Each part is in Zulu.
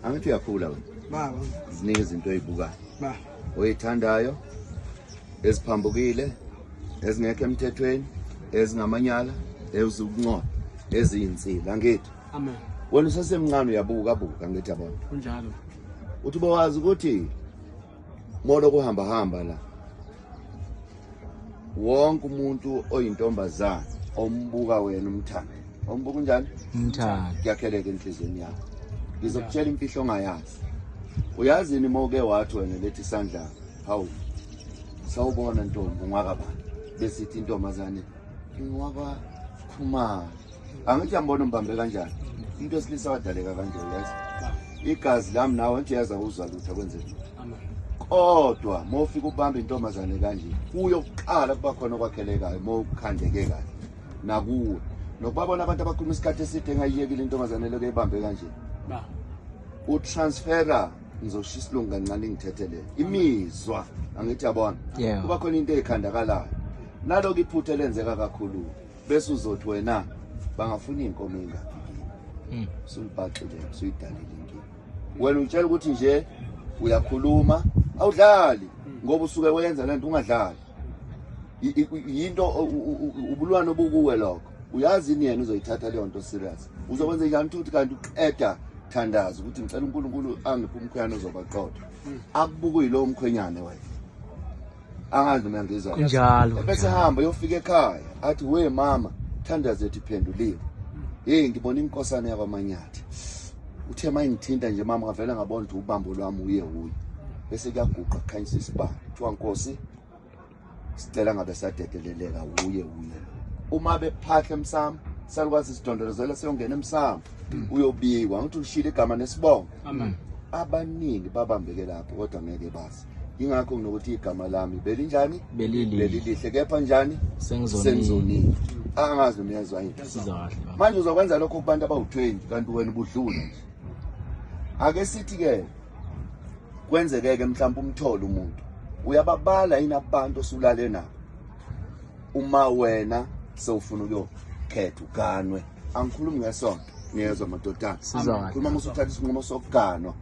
angithi uyakhula wena baba ziningi izinto oyibukayo baba oyithandayo eziphambukile ezingekho emthethweni ezingamanyala eziwukuncoba eziyinsila angithi amen wena usesemncane uyabuka buka angithi yabona kunjalo uthi bowazi ukuthi molo kuhamba hamba la wonke umuntu oyintombazana ombuka wena umthanda ombuka unjani umthanda kuyakheleka enhliziyweni yakho ngizokutshela imfihlo ongayazi uyazini uma uke wathi wena lethi isandla hawu sawubona ntombi ungwakabani besithi intombazane ingwakwakhumalo angithi yambona umbambe kanjani umuntu wesilisa wadaleka kanje uyazi igazi lami nawe nje yaza uzwa lutho kwenze lutho kodwa uma ufika ubamba intombazane kanje kuyo kuqala kuba khona okwakhelekayo uma ukhandeke kahle nakuwe nokubabona abantu abakhuluma isikhathi eside engayiyekile intombazane leyo kuyibambe kanje utransfera ngizoshisa isilungu kancane ngithethelele imizwa angithi yabona kuba khona into eyikhandakalayo naloko iphutha elenzeka kakhulu bese uzothi wena bangafuna iy'nkomo ey'ngaphi kini hmm. sulibhaxile usuyidalile inkinga wena utshela ukuthi nje uyakhuluma awudlali hmm. ngoba usuke wenza le nto ungadlali yinto ubulwane obukuwe lokho uyazi ini yena uzoyithatha leyo nto serious uzokwenza njani ukuthi kanti uqeda thandaza ukuthi ngicela unkulunkulu angiphi umkhwenyana ozobaqotha hmm. akubukuyilowo mkhwenyane wena angazi noma ngizwa kunjalo ebese hamba yofika ekhaya athi we mama thandazo ethi phenduliwe hey ngibona inkosana yakwamanyathi uthe mayingithinta nje mama ngavela ngabona ukuthi ubambo lwami uye uye bese kuyaguqa kukhanyisa isibani kuthiwa nkosi sicela ngabe sadedeleleka uye uye uma bephahla emsamo salukwazi sidondolozela siyongena emsamo uyobikwa ngithi ushile igama nesibongo abaningi babambeke lapho kodwa ngeke bazi yingakho nginokuthi igama lami belinjani belilihle kepha njani sengizonile angazi noma uyazwa yini manje uzokwenza lokho kubantu abawu-20 kanti wena ubudlula nje ake sithi-ke kwenzekeke mhlawumbe umthole umuntu uyababala yini abantu osulale nabo uma wena sewufuna ukuyokhetha uganwe angikhulumi ngesonto niyezwa madodana khuluma musuthatha isinqumo sokuganwa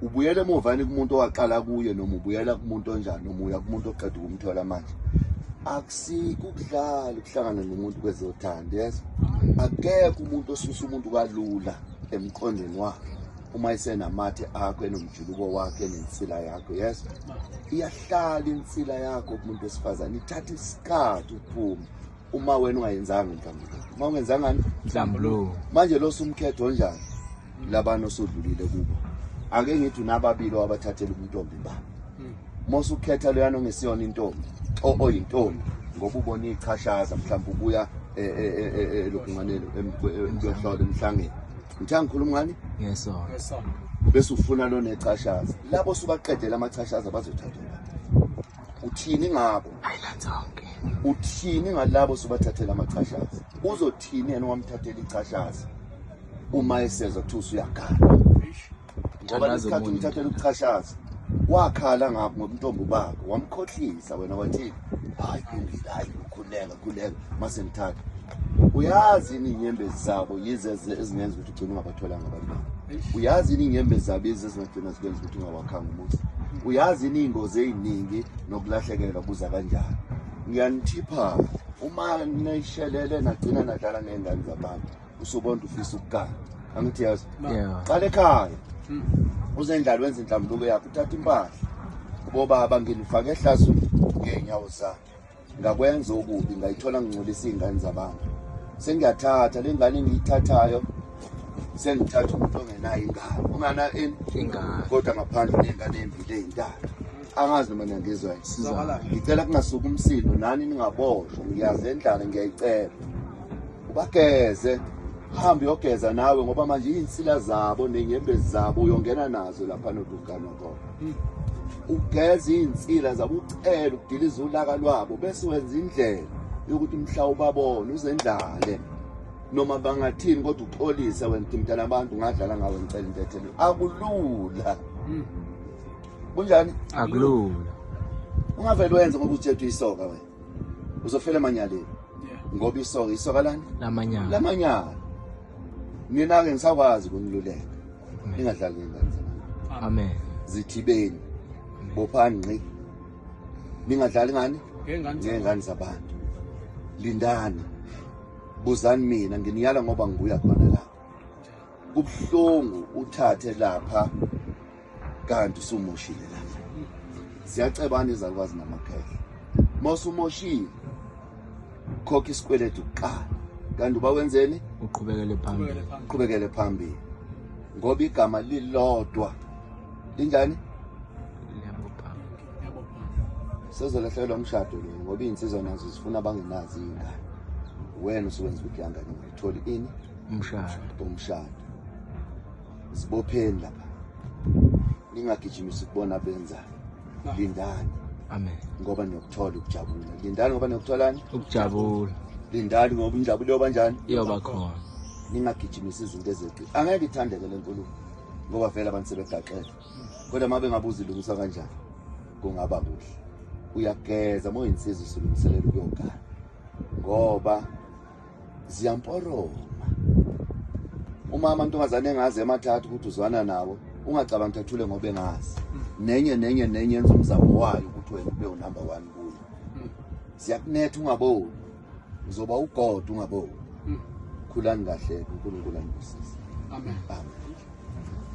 ubuyela emuva yini kumuntu owaqala kuye noma ubuyela kumuntu onjani noma uya kumuntu oqeda ukumthola manje akusikho ukudlala ukuhlangana nomuntu kwezothanda yes akekho umuntu osusa umuntu kalula emqondweni wakhe uma isenamathe akho enomjuluko wakhe enensila yakho yes iyahlala insila yakho kumuntu wesifazane ithatha isikhathi ukuphuma uma wena ungayenzanga inhlambuluko uma ungenzangani inhlambuluko manje lo sumkhetho onjani labana osodlulile kubo ake ngithi unababili owabathathela ubuntombi ba hmm. mose ukhetha loyana ongesiyona intombi oyintombi ngoba ubona ichashaza mhlawumbe ubuya e, e, e, elokunganeni emkuyohlola emhlangeni ngithe angikhuluma ngani ngesona bese ufuna lonechashaza labo subaqedela amachashaza bazothathela uthini ngabo uthini ngalabo subathathela amachashazi uzothini yena wamthathela ichashazi uma esezwa kuthiwa usuyagala ngoba lesikhathi umthathela ukuchashaza wakhala ngakho ngoba intombi ubaba wamkhohlisa wena wathini hayi kulungile hayi ukhuleka khuleka mase ngithatha uyazi yini inyembezi zabo yize ezingenza ukuthi ugcine ungabatholanga abantu babo uyazi yini inyembezi zabo yize ezingagcina zikwenza ukuthi ungawakhanga umuzi uyazi yini iy'ngozi ey'ningi nokulahlekelwa kuza kanjani ngiyanithipha uma nishelele nagcina nadlala ngey'ngane zabantu usubonda ufisa ukugana angithi yazi qala ekhaya hmm. uze endlala wenza inhlambuluko yakho uthatha impahla ubobaba nginifake ehlazweni ngey'nyawo zakhe ngakwenza okubi ngayithola ngingcolisa iy'ngane zabantu sengiyathatha le ngane engiyithathayo sengithatha umuntu ongenayo ingane ungana ingane kodwa ngaphandle ney'ngane ey'mbili ey'ntathu angazi noma niyangizwa ngicela kungasuki umsindo nani ningaboshwa ngiyazi endlala ngiyayicela ubageze hambe uyogeza nawe ngoba manje iy'nsila zabo ney'nyembezi zabo uyongena nazo lapha nodukanokona ugeza iy'nsila zabo ucela ukudiliza ulaka lwabo bese wenza indlela yokuthi mhla ubabone uzendlale noma bangathini kodwa uxolise wena uthi mntana abantu ngadlala ngawe ngicela intethelo akulula hmm. kunjani akulula ungavele wenze ngoba uthethwe isoka wena uzofela emanyaleni ngoba isoka isoka lani lamanyala lamanyala nina-ke ngisakwazi ukuniluleka ningadlali ngengane zabantu amen zithibeni bophani ngqi ningadlali ngani ngengane zabantu lindani buzani mina nginiyala ngoba nguya khona la kubuhlungu uthathe lapha kanti usumushile la siyacebana izalukwazi namakhehla mosumoshile khokha isikweletu kuqala kanti uba wenzeni uqhubekele phambili uqhubekele phambili ngoba igama lilodwa linjani sezolahlekelwa umshado lo ngoba iy'nsizwa nazo zifuna abangenazi iy'ngane wena usuwenza ukuthi yangane ngayitholi ini umshado umshado zibopheni lapha ningagijimisi kubona benzayo lindani amen ngoba niyokuthola ukujabula lindani ngoba niyokutholani ukujabula lindani ngoba injabulo yoba njani iyoba khona ningagijimisa izinto ezeqi angeke ithandeke le nkulumo ngoba vele abantu sebegaxele kodwa uma bengabuza ilungiswa kanjani kungaba kuhle uyageza uma uyinsizwa usulungiselela ukuyogana ngoba ziyamporoma uma amantombazane engazi emathathu ukuthi uzwana nawo ungacabanga ukuthi athule ngoba engazi nenye nenye nenye yenza umzamo wayo ukuthi wena ube unumber one kuyo ziyakunetha ungaboni uzoba ugod ungaboni khulani kahle unkulunkulu anibusise amen, amen.